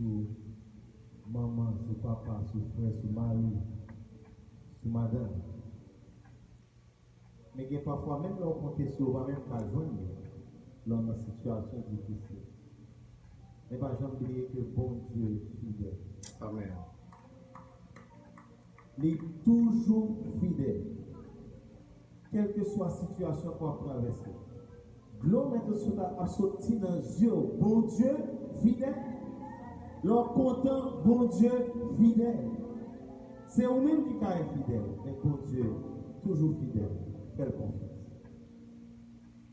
sou manman, sou papa, sou frè, sou mari, sou madanm. Men gen pafwa menm lè w konte sou yo ou pa menm ka jwenn yo lè w nan sitiyasyon difisil. Men pa janm bliye ke Bondye fidèl. Amen. Li toujou fidèl. Kèlkeswa sitiyasyon ke wap travèse. Dlo mèt Oswald la ap soti nan zye w. Bondye fidèl. Lè w kontan, Bondye fidèl. Se ou menm ki ka enfidèl, men Bondye toujou fidèl. Fè l konfyans.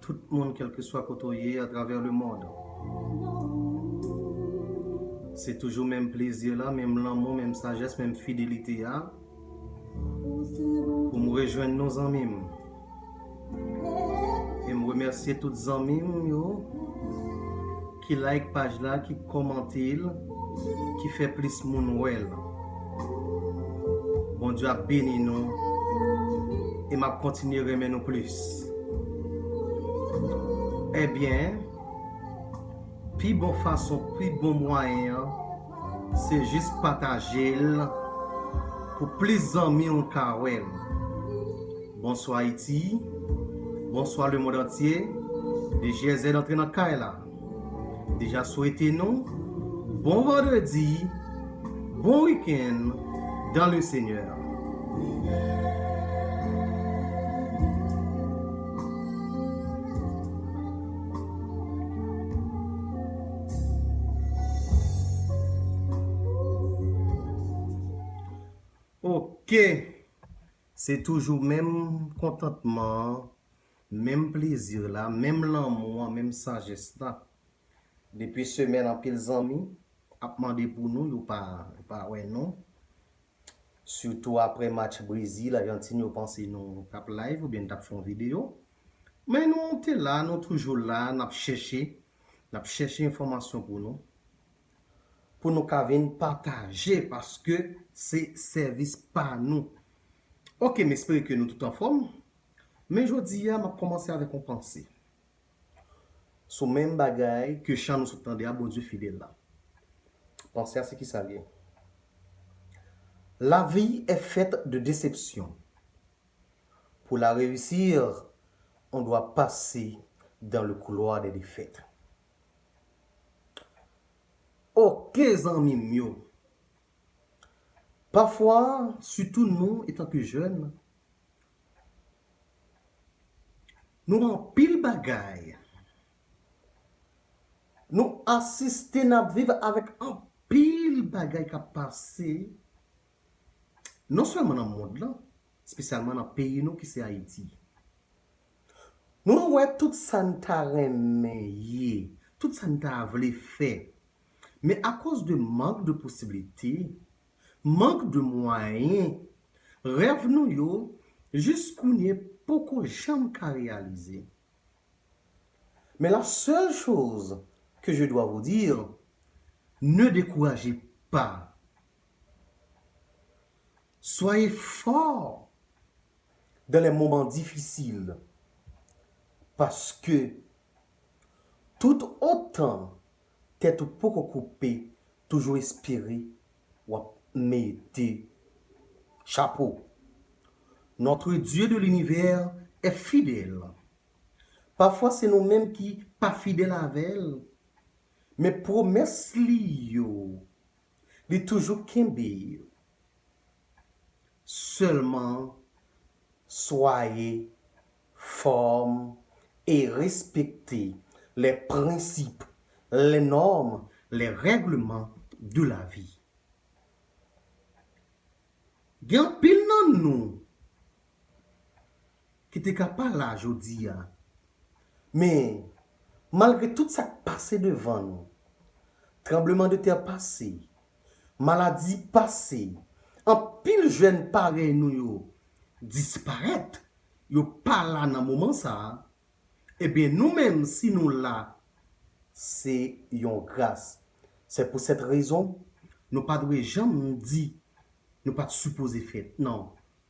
Tout moun kelkeswa kote w ye atravè le mond. Se toujou menm plezi la, menm lanmou, menm sajès, menm fidelite a. Pou m rejwenn nou zanmi m. E m remèsye tout zanmi m yo. Ki like paj la ki komantel ki fè plis moun wèl Bondye ap beni nou e map kontinye renmen nou plis Ebyen pi bon fason pi bon mwayen an Se jis patajel pou plis zanmiw ka wèl. Bonswa Ayiti Bonswa le mond antye DGZ antre nan kay la Deja swete nou bon vandredi bon wikenn dan le senyè. Ok se toujou menm kontantman an, menm plezi la, menm lanmou an, menm sajès la. Depi semèn anpil zanmi ap mande pou nou yo pa wè nou. Sitou aprè match Brezil, Ajantin yo panse nou tap live oubyen nou tap fè yon videyo. Men nou te la, nou toujou la, nap chèche. N ap chèche enfòmasyon pou nou, pou nou ka vin pataje paske se sèvis pa nou. Ok, m espere ke nou tout anfòm, men jodi a m ap kòmanse avèk yon panse sou menm bagay ke chan nou sot tande a Bondye fidèl la. Panse a se kisa l ye? Lavi è fèt de desepsyon. Pour la réussir, on doit passer dans le couloir des défaites. Ok zanmi m yo! Pafwa, sitou nou etanke jèn, nou anpil bagay, nou asiste, n ap viv avèk anpil bagay k ap pase. non sèlman nan mond lan, spesyalman nan peyi nou ki se Ayiti. Mwen wè tout sa n ta renmen ye, tout sa n ta vle fè, men akoz de mank de posiblite, mank de mwayen, rèv nou yo jis kounye poko janm ka reyalize. Men la seule chose que je dois vous dire, ne découragez pas! Soyez fort dans les moments difficiles paske tout otan tèt ou poko koupe toujou espere wap mete chapo. Notre Dieu de l'univers est fidèle pafwa se nou menm ki pa fidèl avèl men pwomès li yo Li toujou kenbe yo. Sèlman swaye fèm e respekte lè prensip, lè nòm, lè règleman de la vi. Gen anpil nan nou. ki te ka pa la jodi a. Men, malgre tout sa k pase devan nou, tranblemandetè pase, maladi pase, anpil jèn parèy nou yo disparèt, yo pa la nan moman sa a, eben nou menm si nou la, se yon gras. Se pou sèt rezon, nou pa dwe janm di nou pa t sipoze fèt, nan.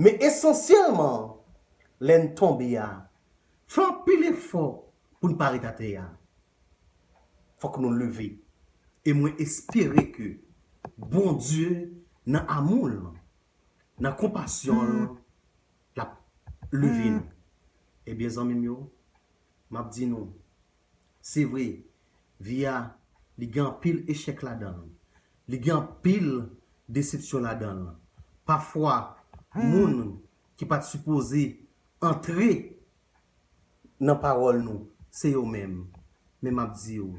Men esansyèlman an, lè n tonbe a, fè anpil efò pou n pa ret atè a. Fòk nou leve. E mwen espere ke Bondye nan amou l, nan konpasyon l, l ap leve nou. Ebyen zanmi m yo, m ap di nou. Se vre, vi a, li gen anpil echèk ladan l. Li gen anpil desepsyon ladan l. Pafwa, moun ki pa t sipoze antre nan pawòl nou, se yo menm. Men m ap di w,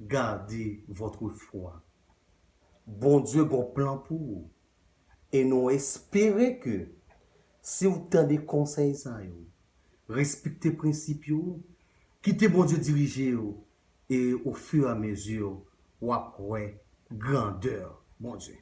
Gardez votre foi. Bondye gen yon plan pou ou. e nou espere ke si w tande konsèy sa yo, respekte prensip yo, kite Bondye dirije w e o fur et à mesure w ap wè grandè Bondye.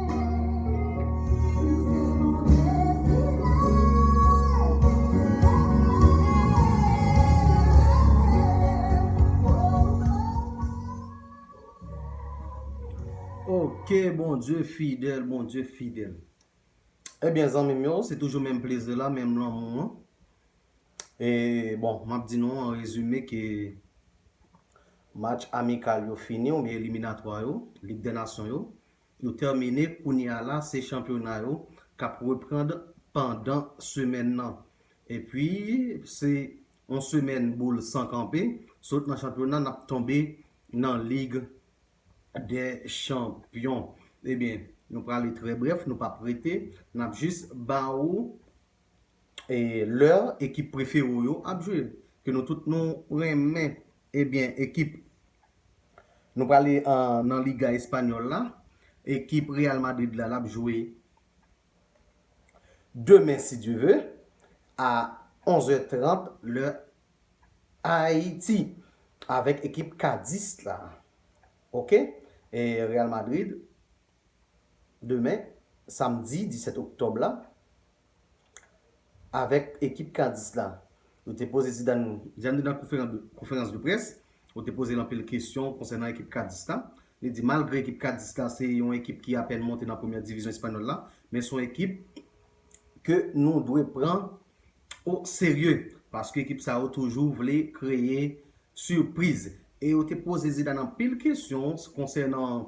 Ok Bondye fidèl, Bondye fidèl Ebyen eh zanmim yo, se toujou menm plezi la, menm lanmou an E bon, m ap di nou an rezime ke match amikal yo fini oubyen eliminatwa yo, lig dè nasyon yo yo tèmine kounye a la se chanpyona yo kap reprand pandan semèn nan epi se yon semèn boul san kanpe sot nan chanpyona nap tonbe nan lig dè chanpyon ebyen nou prale trè brèf nou pap rete nap jis ba ou lè ekip prefere w yo ap jwe ke nou tout nou renmen ebyen ekip nou prale nan liga espanyòl la ekip Real Madrid la lap jwe demen si Dye ve a 11 è 30 lè Ayiti avèk ekip Kadis la ok Real Madrid demen, samdi 17 oktòb la, avèk ekip Kadis la. Nou te poze Zidane. Zidane nan konferans de près, yo te poze l anpil kesyon konsènan ekip Kadis la. Li di malgre ekip Kadis la se yon ekip ki apèn monte nan premyè divizyon espanyòl la, men se yon ekip ke nou dwe pran o serye, paske ekip sa yo toujou vle kreye sipriz. E yo te poze Zidane anpil kesyon konsènan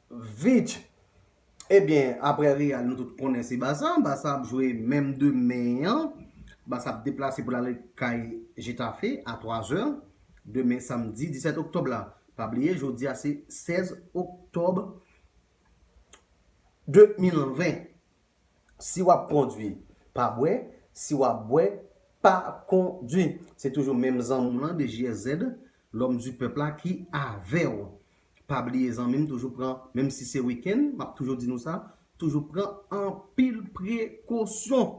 Vich Ebyen aprè Real nou tout konnen se Barça, Barça ap jwe menm demen an, Barça ap deplase pou l ale kay Getafe a 3 zè demen samdi 17 oktòb la. Pa bliye jodi a se 16 oktòb 2020. Si wap kondwi, pa bwè, si wap bwè, pa kondwi. Se toujou menm zanmi w lan DJSZ, L'homme du peuple la ki avè w. Pa bliye zanmi m toujou pran, menm si se wikenn, m ap toujou di nou sa, toujou pran anpil prekosyon.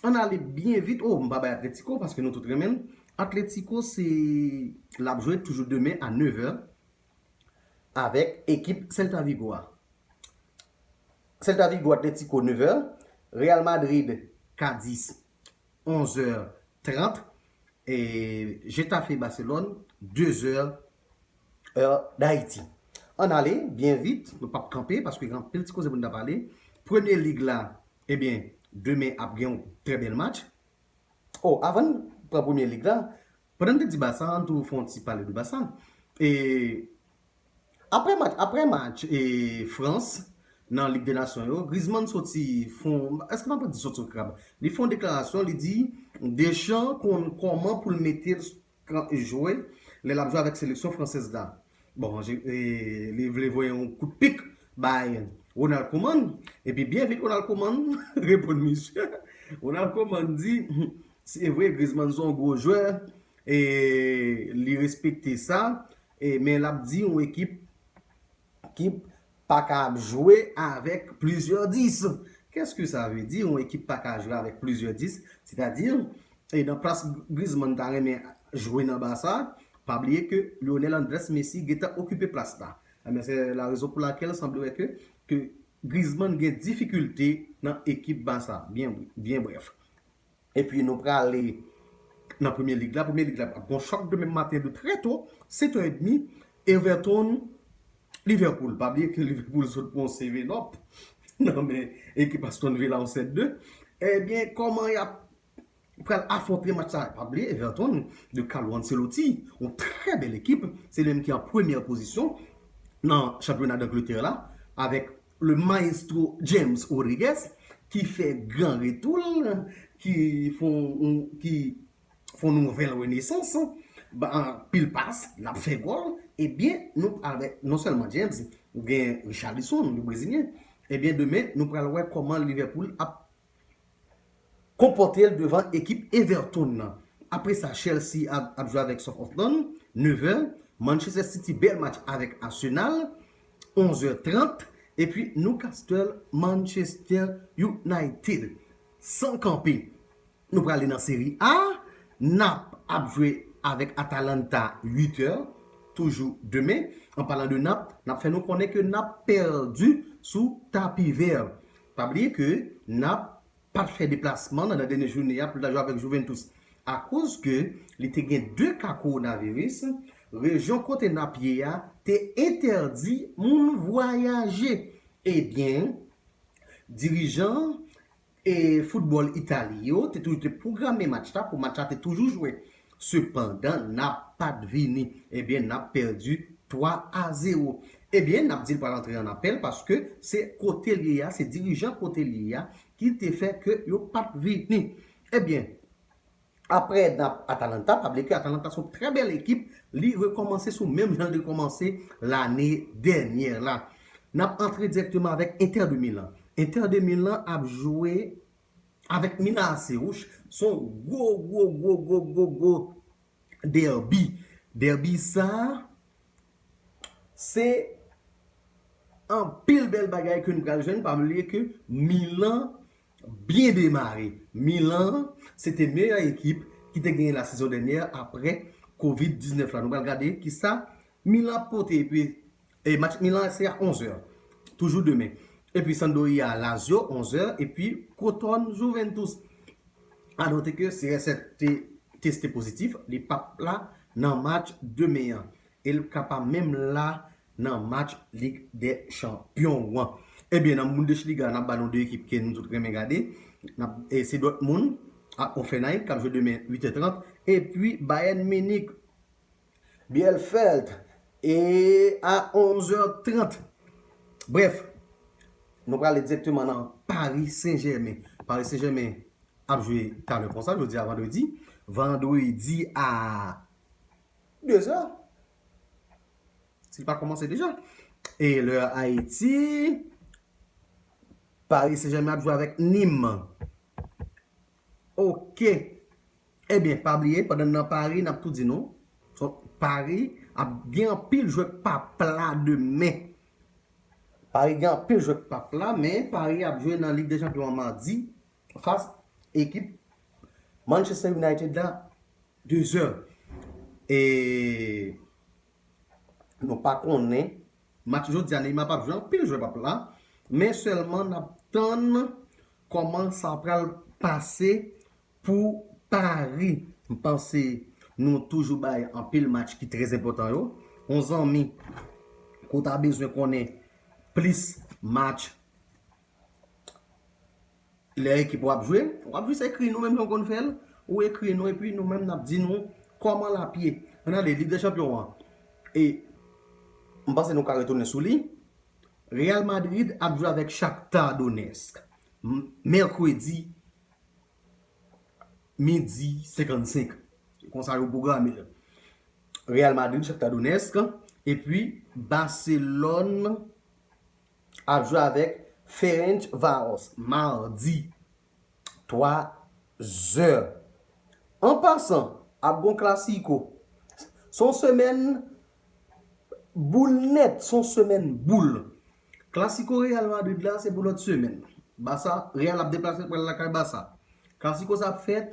Ann ale byen vit, o, m pa bay Atlético paske nou tout renmen l. Atlético se, l ap jwe toujou demen a 9 è, avèk ekip Celta Vigo a. Celta Vigo Atlético 9 è, Real Madrid Cádiz 11 è 30 e Getafe Barcelone 2 è è Dayiti. Ann ale byen vit, nou pap kanpe paske gen anpil ti koze pou n ta pale. Premye lig la, ebyen demen ap gen yon trè bèl match. Oh avan n pran premye lig la, pandan n te di Basa an tou fon ti pale de Basa e aprè match aprè match e Frans nan lig de nasyon yo Griezmann soti fon eske mwen pa di soti sou krab li fon deklarasyon li di Deschamps konn kòman pou l mete l kan jwe lè lap jwe avèk seleksyon fransèz la. Bon an li vle voye yon kout pik bay Ronald Koeman epi byen vit Ronald Koeman reponn misye. Ronald Koeman di se vre Griezmann se yon gwo jwè e li respekte sa men lap di yon ekip ki paka ap jwe avèk plizyè 10. Kèske sa vle di yon ekip paka jwe avèk plizyè 10? Sètadi, e nan plas Griezmann ta renmen jwe nan Barça, pa bliye ke Lionel Andrés Messi gentan okipe plas la. Ebyen se la rezon pou lakèl sanble wè ke ke Griezmann gen difikilte nan ekip Barça. Byen brèf. epi nou prale nan premye lig la, premye lig la pral gon chòk demen maten de trè to, 7 è demi, Everton, Liverpool, pa bliye ke Liverpool sot pran yon seven up nan men ekip Aston Villa yon 7-2, ebyen kòman yap pral afronte match sa, pa bliye Everton de Carlo Ancelotti, yon trè bèl ekip, se li menm ki an premyè pozisyon nan chanpyona Dangletè la, avèk Le maestro James Rodriguez ki fè gran retou l, ki fon nouvèl renesans, pil pas, l ap fè gòl, ebyen nou pral wè, non sèlman James, gen Richarlison, yon brezilyen, ebyen demen nou pral wè kòman Liverpool ap konpòte l devan ekip Everton nan. Apre sa Chelsea ap jwe avèk Southampton, 9 è, Manchester City bèl match avèk Arsenal, 11 è 30, epi Newcastle Manchester United. San kanpe, nou prale nan Serie A, Nap ap jwe avèk Atalanta 8 è, toujou demen. An palan de Nap, n ap fè nou konnen ke Nap pèdi sou tapivè. Pa bliye ke Nap pat fè deplasman nan dènye jounen an pou li ta jwe avèk Juventus akoz ke li te gen 2 ka kowonaviris, rejyon kote Nap ye a te entèdi moun vwayaje. Ebyen, dirijan e foutbòl Itali yo te toujou te pwograme match la pou match la te toujou jwe. Sepandan nap pat vini. Ebyen nap pèdi 3 a 0. Ebyen nap dil pral antre an apèl paske se kotel ye a se dirijan kotel ye a ki te fè ke yo pat vini. Ebyen aprè nap Atalanta pa bliye ke Atalanta son trè bèl ekip li rekomanse sou menm janl te komanse lane dènyè la. Nap antre dirèkteman avèk Inter de Milan. Inter de Milan ap jwe. avèk Mina Aserouch son gwo gwo gwo gwo gwo gwo derby derby sa se anpil bèl bagay ke nou pral jwenn pa bliye ke Milan byen demare Milan se te meyè ekip ki te genyen la sezon dènyè apre covid 19 la nou pral gade kisa Milan ap pote epi E match Milan se a 11 è toujou demen. Epi Sandoria Lazio 11 è epi Crotone Juventus. A note ke CR7 te teste pozitif, li pap la nan match demen an. E li ka pa menm la nan match Lig dè Chanpyon an. Ebyen nan Bundesliga nap ba nou 2 ekip ke nou tout renmen gade. Se Dortmund ak Offenheim kap jwe demen 8 è 30 epi Bayern Munich. Bielfeld e a 11 è 30. Brèf, nou prale direkteman nan Paris Saint Germain. Paris Saint Germain ap jwe talè konsa, jodi a vandredi. Vandredi a 2 è. Si l pa koumanse deja. E lè Haiti, Paris Saint Germain ap jwe avèk Nîmes. Ok Ebyen pa bliye pandan n nan Pari nap tou di nou Pari ap gen anpil jwè pap la demen Pari gen anpil jwè pap la men Pari ap jwe nan lig de chanpyon an madi fas ekip Manchester United la 2 zè e. Nou pa konnen. Match jodi a Neymar pap jwe anpil jwè pap la men sèlman nap tann kòman sa pral pase pou Paris. M panse nou toujou bay anpil match ki trè enpòtan yo. On zanmi ke w ta bezwen konnen plis match. Lè ekip ou ap jwe, ou ap jis ekri nou menm jan ou konn fè l, ou ekri nou epi nou menm n ap di nou kòman l ap ye. An ale, Lig dè Chanpyon an, e m panse nou ka retounen sou li, Real Madrid ap jwe avèk Shakhtar Donetsk mèkredi midi 55, se konsa yo pwograme l. Real Madrid, Shakhtar Donetsk, epi Barcelone ap jwe avèk Ferencvaros madi 3 zè. An pasan, ap gen yon klasiko. Se yon semèn boul nèt, se yon semèn boul. Klasiko Real Madrid la se pou lòt semèn. Basa, Real ap deplase pou al lakay Basa. Klasiko sa ap fèt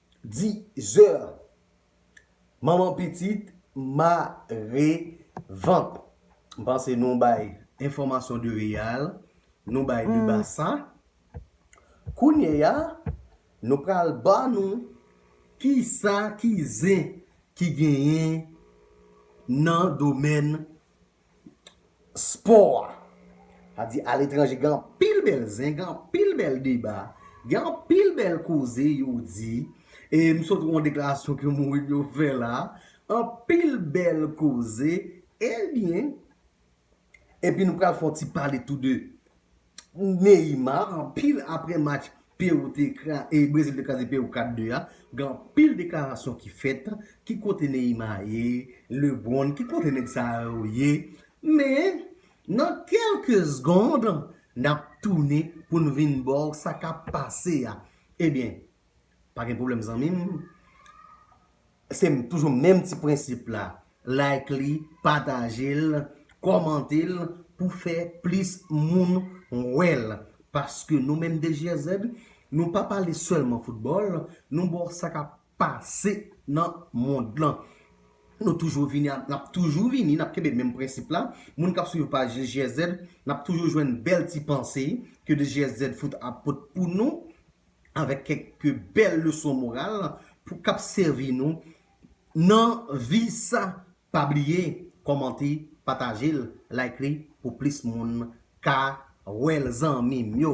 Dizeur Manman pitit mare vant. M panse nou bay enfòmasyon de real, nou bay de basa. Kounye a, nou pral ba nou ki sa ki zen ki genyen nan domèn spò a. Sa di aletranje gen anpil bèl zen, gen anpil bèl deba, gen anpil bèl koze yo di. E m sot wè yon deklarasyon ke Mourinho fè la. Anpil bèl koze. Ebyen, epi nou pral fè yon ti pale tou de Neymar anpil aprè match Perou te kra e Brezil te kraze Perou 4 2 a gen anpil deklarasyon ki fèt ki kote Neymar ye Lebron ki kote nèg sa yo ye men nan kelke segond nap tounen poun vin baw sa kap pase a ebyen Pa gen pwoblèm zanmim. Se toujou menm ti prensip la. Like li, patajel, kòmantel pou fè plis moun wèl. Paske nou menm DJSZ, nou pa pale sèlman foutbòl, nou ba w sa kap pase nan mond lan. Nou toujou vini, nap toujou vini, nap kenbe menm prensip la. Moun kap swiv paj DJSZ, nap toujou jwenn bèl ti panse ke DJSZ fout ap pot pou nou. avèk kèk bèl leson moral pou kap sèvi nou nan vi sa pa bliye kòmante patajel like li pou plis moun ka wèl zanmim yo.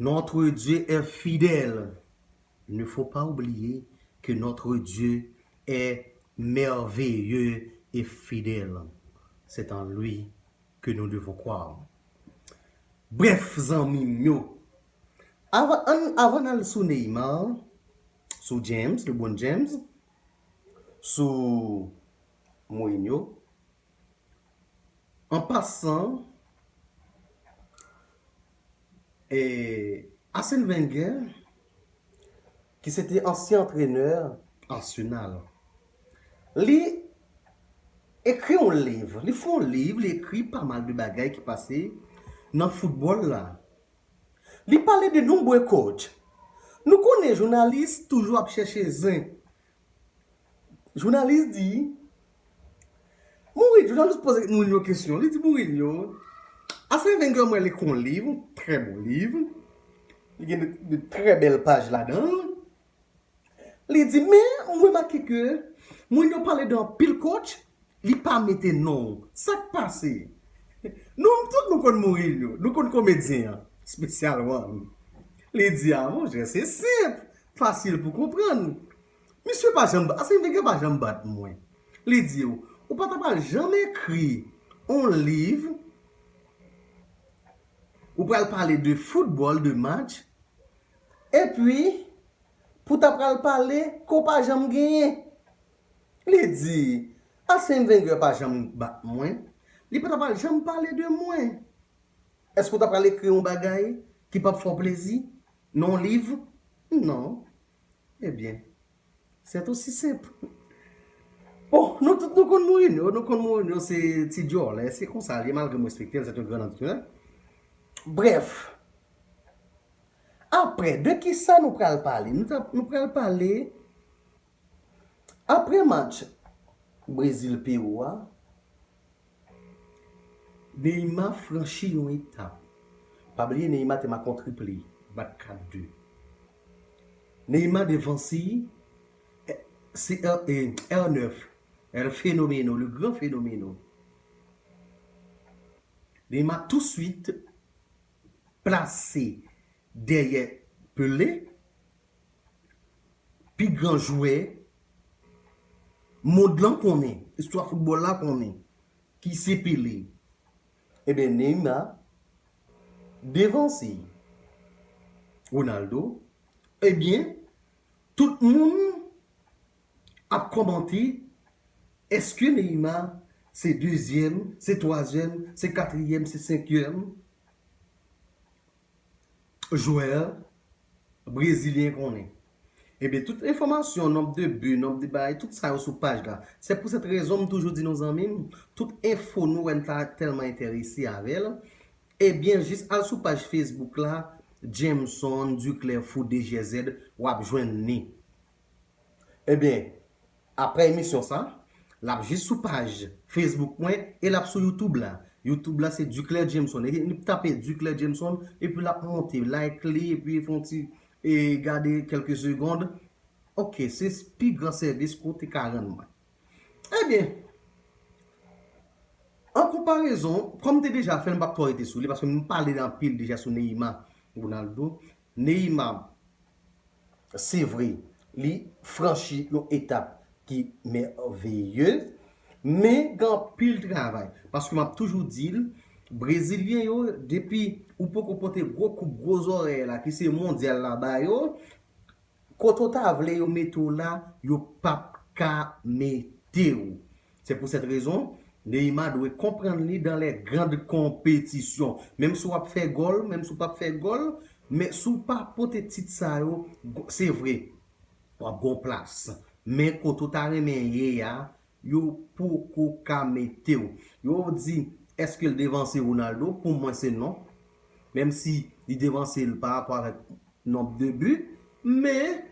Notre Dieu est fidèle Ne faut pas oublier que notre Dieu est merveilleux et fidèle C'est en lui que nous devons croire Brèf zanmi m yo Avan n al sou Neymar Sou James, Lebron James Sou Mourinho An pasan, Arsene Wenger ki se te ansyen antrenè Arsenal, li ekri yon liv, li fè yon liv, li ekri pa mal de bagay ki pase nan foutbòl la. Li pale de nombre coach. Nou konnen jounalis toujou ap chèche zen Jounalis di, Mourinho, jounalis poze Mourinho kesyon, li di Mourinho, Arsene Wenger mwen li kon liv, trè bon liv, li gen de trè bèl paj ladan, li di men mwen remake ke Mourinho pale de anpil coach, li pa mete non, sak pase? Nou tout nou konn Mourinho, nou konn komedyen an, spesyalman li. Li di a, monchè se senp, Fasil pou konprann. Misye pa janm bat, Arsène Wenger pa janm bat mwen. Li di w, ou pa ta pral janm ekri on liv, ou pral pale de foutbòl, de match, epi pou ta pral pale ke w pa janm genyen. Li di, Arsène Wenger pa janm bat mwen, li pa ta pral janm pale de mwen. Èske w ta pral ekri on bagay ki p ap fè w plezi? Non liv? Non. Eh byen, c'est aussi simple. Bon, nou tout nou konn Mourinho, nou konn Mourinho se ti djòlè, se konsa l ye malgre m respekte l, c'est un grand entraineur. Brèf, aprè de kisa nou pral pale? Nou pral pale. Aprè match Brezil-Pewou a, Neymar franchi yon etap. Pa bliye Neymar te make yon triple, bat 4 de. Neymar devan si CR9, El Fenomeno, Le Grand Fenomeno. Neymar tou swit plase dèyè Pelé. Pi gran jwè mond lan konnen, istwa foutbòl la konnen ki se Pele. Eben Neymar devanse Ronaldo. Ebyen tout moun ap kòmante eske Neymar se dezyèm, se twazyèm, se katriyèm, se senkyèm. jwè brezilyen konnen. Ebyen tout enfòmasyon, nonb de bi, nonb de bay, tout sa yo sou paj la. Se pou sèt rezon m toujou di nou zanmi m, tout enfo nou wè n ta tèlman enterese avè l, ebyen jis al sou paj Facebook la Jameson Duclair Foot 2 Gyèzèd w ap jwenn ni. Ebyen aprè emisyon sa lap jis sou paj Facebook mwen e lap sou YouTube la. YouTube la se Duclair Jameson. Ebyen tape Duclair Jameson epi lap monte. Like li epi fon ti e gade kelke segond. Ok se pi gran sèvis ke w te ka rann mwen. Ebyen an konparezon kòm m te deja fè l m pap twò rete sou li paske m pale anpil deja sou Neyima Ronaldo. Neymar se vre li franchi yon etap ki mèveye men gen anpil travay paske map toujou dil brezilyen yo depi ou poko pote gwo koup gwo zòrèy la ki se mondyal la ba yo kote ou ta vle yo mete w la yo pap ka mete w Se pou sèt rezon, Neymar dwe konprann li dan lè grand konpetisyon. Menm si w ap fè gòl, menm si w pap fè gòl, men si w pa pote tit sa yo, se vre, w ap gen yon plas. Men kote w ta renmen ye a, yo poko ka mete w. Yo di, èske l devanse Ronaldo? Pou mwen se non. Menm si li devanse l pa rapò avèk nonb de bi, men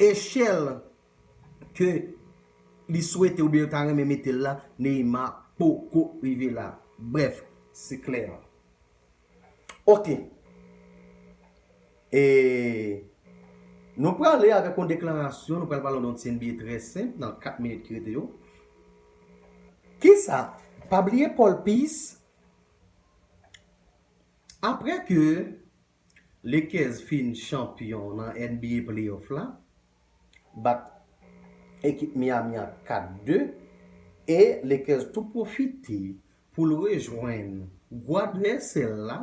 echèl ke li swete oubyen yo ta renmen mete l la, Neymar poko rive la. Brèf, se klè. Ok. E nou prale avèk yon deklarasyon, nou pral pale yon ti NBA trè senp nan 4 minit ki rete yo. Kisa? Pa bliye Paul Pierce, aprè ke Lakers fin chanpyon nan NBA playoff la, bat ekip Miami an 4-2 e Lakers tou pwofite pou l rejwenn gwo advèsè l la,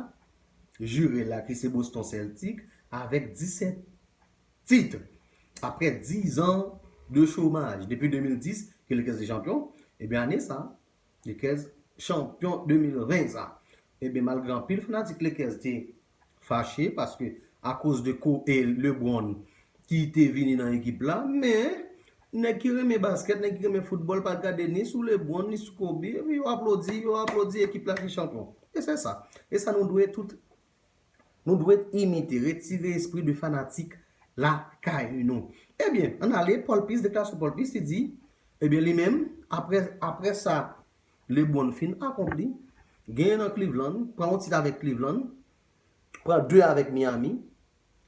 jire l la ki se Boston Celtics avèk 17 tit aprè 10 an de chomaj. Depi 2010 ke Lakers te chanpyon, ebyen ane sa Lakers chanpyon 2020 sa. Ebyen malgre anpil fanatik Lakers te fache paske akoz de ko e Lebron ki te vini nan ekip la men nèg ki renmen basket, nèg ki renmen foutbòl pa gade ni sou Lebron ni sou Kobe epi yo aplodi, yo aplodi ekip la ki chanpyon. E se sa. E sa nou dwe tout Nou dwe imite, retire espri de fanatik lakay nou. Ebyen, ann ale, Paul Pierce, deklarasyon Paul Pierce, li di, ebyen li menm, apre, apre sa LeBron fin akonpli, genyen nan Cleveland, pran yon tit avèk Cleveland, pran 2 avèk Miami,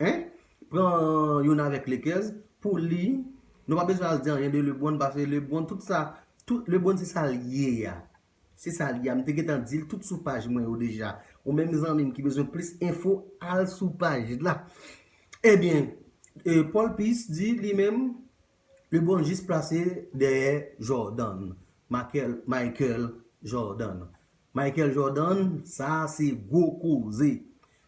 hein, pran youn avèk Lakers, pou li, nou pa bezwen al di anyen de LeBron, pase LeBron, tout sa, tout, LeBron se sa l ye a. Se sa li a, m te gentan dil tout sou paj mwen yo deja. Ou menm zanmi m ki bezwen plis enfo al sou paj la. Ebyen, Paul Peace di li menm Lebron jis plase dèyè Jordan, Michael Jordan. Michael Jordan, sa se gwo koze.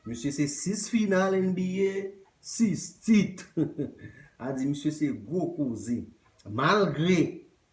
Misye se 6 final NBA, 6 tit. A di misye se gwo koze. Malgre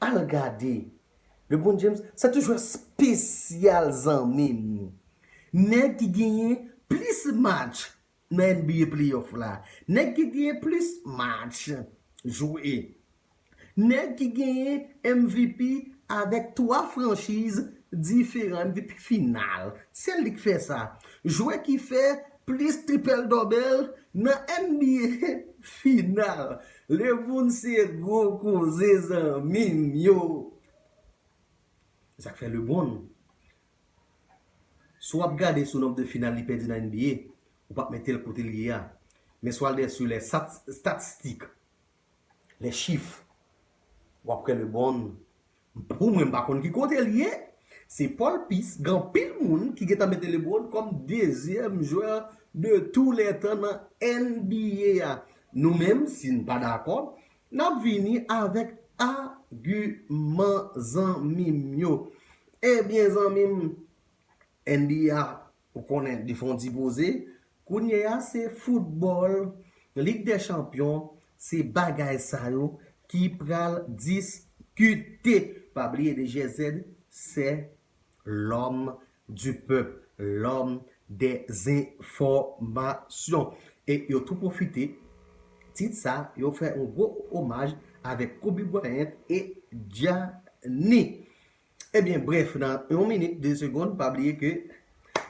Al gade. Lebron James se tou jwè spesyal zanmim. Nèg ki genyen plis match nan NBA playoff la. Nèg ki genyen plis match jwe. Nèg ki genyen MVP avèk 3 franchiz diferan, MVP final. Se li k fè sa. Jwè ki fè Plis tripel dobel nan NBA final. Lebron se gwo koze zanmim yo. Sak fè Lebron si w ap gade sou nonb de final li pèdi nan NBA ou pap metel kotel ye a men si w al dèyè sou lè statistik les chiffres wap kwè le bon pou mwen m pa konn ki kote li ye se Paul Peace gen anpil moun ki gentan mete le bon kòm dezyèm jwè de tou lè tan nan NBA a nou menm si n pa dakò nap vini avèk agiman zanmi m yo ebyen zanmi m NBA Ou konnen li fè yon ti poze, kounye a se foutbòl, lig dè chanpyon, se bagay sa yo ki pral diskite. Pa bliye de GZ sè lòm di pèp, lòm dè zenfòmasyon. E yo tou pwofite tit sa yo fè yon gwo omaj avèk Kobe Bryant e Gianni. Ebyen brèf nan yon minit de segond pa bliye ke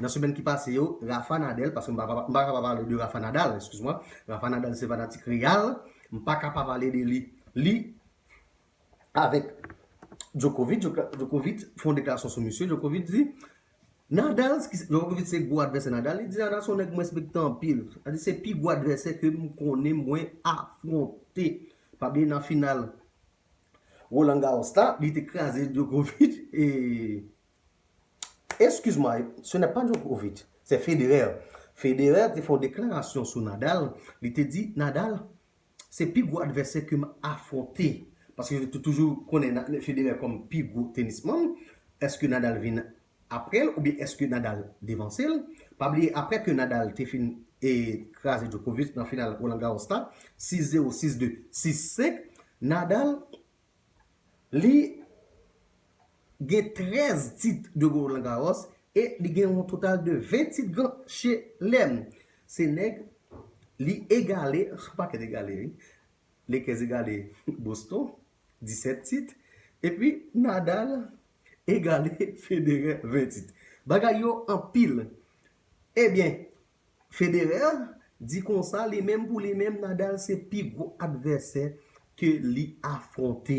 nan semèn ki pase yo Rafa Nadel paske m pa ka pa pale de Rafa Nadal eskiz mwen Rafa Nadal se fanatik Real m pa ka pa pale de li li avèk Djokovic Djokovic fè yon deklarasyon sou misye Djokovic di Nadal Djokovic se gwo advèsè Nadal li di Nadal se yon nèg m respekte anpil sa di se pi gwo advèsè ke m konnen mwen afwonte pa bliye nan final Roland Garros la, li te kraze Djokovic e Excuse moi, ce n'est pas Djokovic, c'est Federer. Federer te fè yon deklarasyon sou Nadal, li te di Nadal se pi gwo advèsè ke m afwonte. Paske yo te toujou konnen Federer kòm pi gwo tenisman. Eske Nadal vin aprèl oubyen èske Nadal devansel, pa bliye aprè ke Nadal te fin kraze Djokovic nan final Roland Garros la 6 0 6 2 6 5 Nadal li gen 13 tit de Roland Garros e li gen yon total de 20 tit gran chelem se nèg li egale, se pa kèt egale wi, Lakers egale Boston. 17 tit, epi Nadal egale Federer 20 tit. Bagay yo anpil. Ebyen, Federer di konsa li menm pou li menm Nadal se pi gwo advèsè ke li afwonte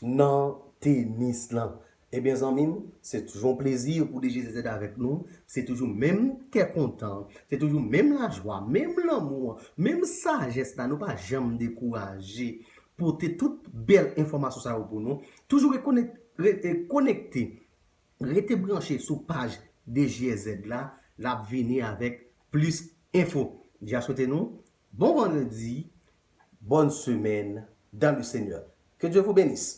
nan tenis lan. Ebyen zanmim se toujou yon plezi pou DGZZ avèk nou, se toujou menm kè kontan, se toujou menm lajwa, menm lanmou an, menm sajès la nou pa janm dekouraje pote tout bèl enfòmasyon sa yo pou nou, toujou rete konekte, rete branche sou paj DGZZ la, lap vini avèk plis enfo. Deja swete nou bon vandredi, bòn semèn dans le Seigneur. Ke Dye vou benis!